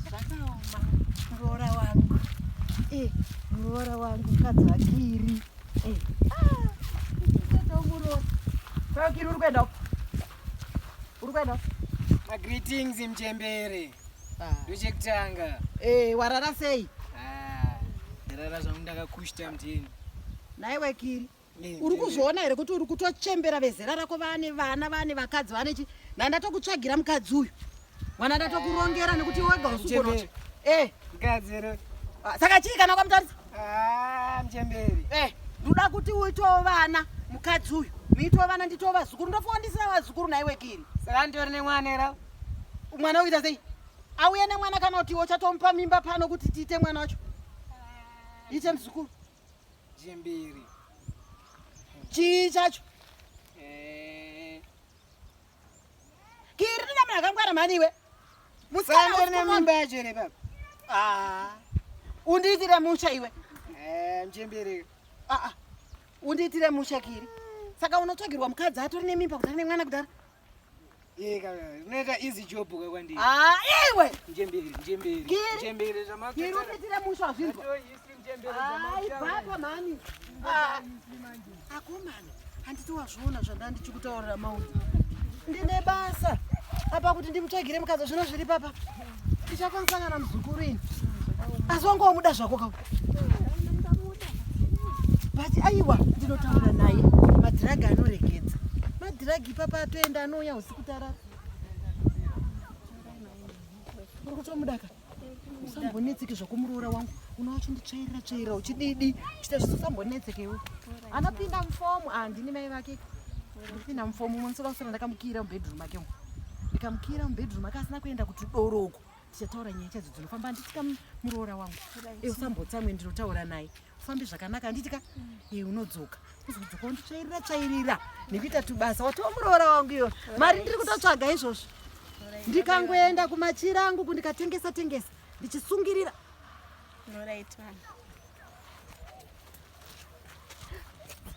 zvakaoma muroora wangu eh, muroora wangu mukadzi wakiri eh, ah, tomuroora vakiri uri kuenda uri kuenda magreetings mchembere ah. ndochekutanga eh, warara sei ah, ndarara zvangu ndakakushita mtini naiwe kiri uri kuzviona here kuti uri kutochembera vezera rako vane vana vane vakadzi vane chi na ndatokutsvagira mukadzi uyu mwana ndatokurongera nekuti wega usukonoti eh. ah, saka chii kana kwamutarisa ah, mchemberi eh, ndoda kuti uitowo vana mukadzi uyu muitowo vana nditowo vazukuru ndofowa ndisina vazukuru naiwe kiri saka nditori nemwana era mwana uita sei auye nemwana kana kuti uchatomupa mimba pano kuti tiite mwana wacho ah, ite mzukuru Jembiri. Chii chacho? Eh. Kiri rina munhu akangwara mhani iwe. Musikana uri nemimba yacho here baba? Ah. Undiitire musha iwe. Eh, mjembiri. Ah ah. Undiitire musha kiri. Saka unotsvagirwa mukadzi atori nemimba kudhara nemwana kudhara. Yeka, unoita easy job kwa kwandi. Ah, iwe. Njembere, njembere. Njembere zvamakatara. Kiri ukitira musho azvinzwa. Ai, baba mani. Ah, akomana. Handiti wazviona zvanda ndichikutaurira maunzi. Ndine basa. Apa kuti ndimutsvagire mukazo zvino zviri papa. tichakwanisana namuzukuru ini asi wange wamuda zvako ka but aiwa ndinotaura naye madhiragi anoregedza madhiragi ipapa atoenda anouya usiku tarara uri kutomudaka usambonetseke zvakumuroora wangu unowacho nditsvairira tsvairira uchididi uchita zvisisambonetseke iwe anopinda mufomu andini mai vake ndipinda mufomu umwe musoka kusana ndakamukira mubedroom ake umu ndikamukira mubedroom ake asina kuenda kuti doro uko tichataura nyaya chadzo dzinofamba handitika muroora wangu e usambotsamwe ndinotaura naye ufambe zvakanaka handitika e unodzoka kuzokudzoka wonditsvairira tsvairira nekuita tubasa watiwo muroora wangu iyo mari ndiri kutotsvaga izvozvo ndikangoenda kumachira angu kundikatengesa tengesa ndichisungirira